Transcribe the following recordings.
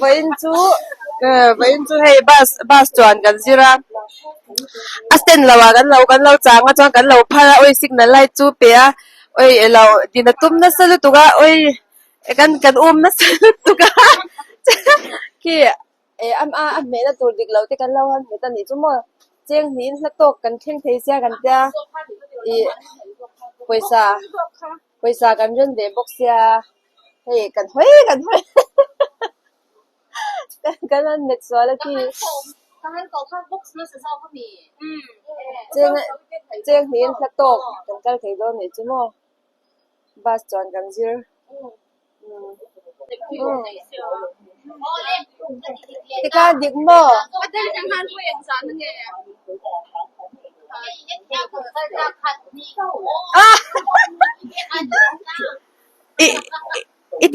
Vawiin chu vawiin chu hei bus bus chuan kan zir a a stand lo ah kan lo kan lo chang a chuan kan lo phar a awi signal light chu pe a awi alo din a tum nasa lutuk a awi-- Kan kan umna sal lut tuk a, khi eh a a hmehna tur dik lo te kan lo han hmu ta nih chu maw, cheng hnih in hla tawk kan thleng thei sia kan tia ih pawisa pawisa kan ren ve bawk sia hei kan hawi kan hawi hahaha kan han met sual a khi cheng cheng hnih in hla tawk kan kal thei dawn nih chu maw. bus chuan kan zir tika dik maw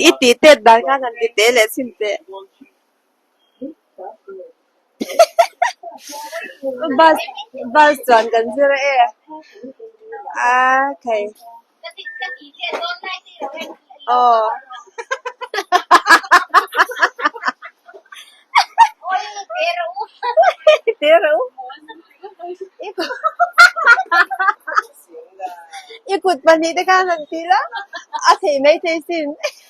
i tih tet dan khan han ti teh leh chhin teh. bus bus chuan kan zir a e aa kai aw te reuh u i kut pahnih te khan han ti la a thei mai thei sin.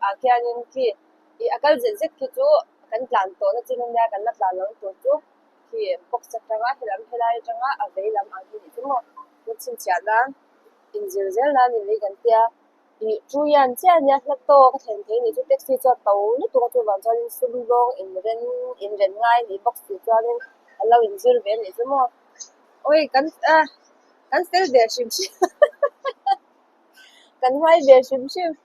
Ah khianin khi i a kal zet zet khi chu kan tlan tawh nachhin a nia, kan la tlan lo tur chu khi box atanga helam helai atanga a vei lam ang hi nihte mawh kan chhinchhiah nan inzir zel nan ni mai kan tia ih chu hian chiah a nia hla tawk a thlen theih anih chu taxi chuan to lutuk a chuvang chuanin sum zawng inren inren ngai anih bawk si chuanin a lo inzir ve anih chu mawh awi kan a kan fel ve hrim hrim hahaha kan hmai ve hrim hrim.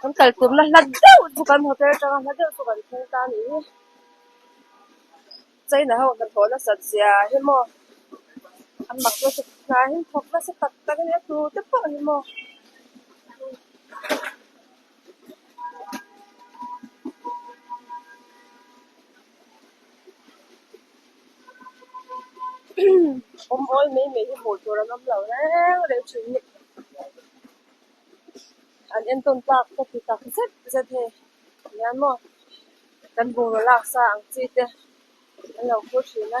Kan kaltûrna hla deuh chu kan hmu tel chang a, hla deuh chu kan phûng ta a nih hi. China ho hnathawh nasat zia hi maw, an mak nasa hnaiin thawk nasa tak tak in a tute pawh hi maw. Awm awi mai mai hi hmuh tûr an awm lo reng reng ṭhin a ni. an entawn tlak ka ti tak zet zet hi nia maw kan bungraw lak sa ang chi te an lo phur thin a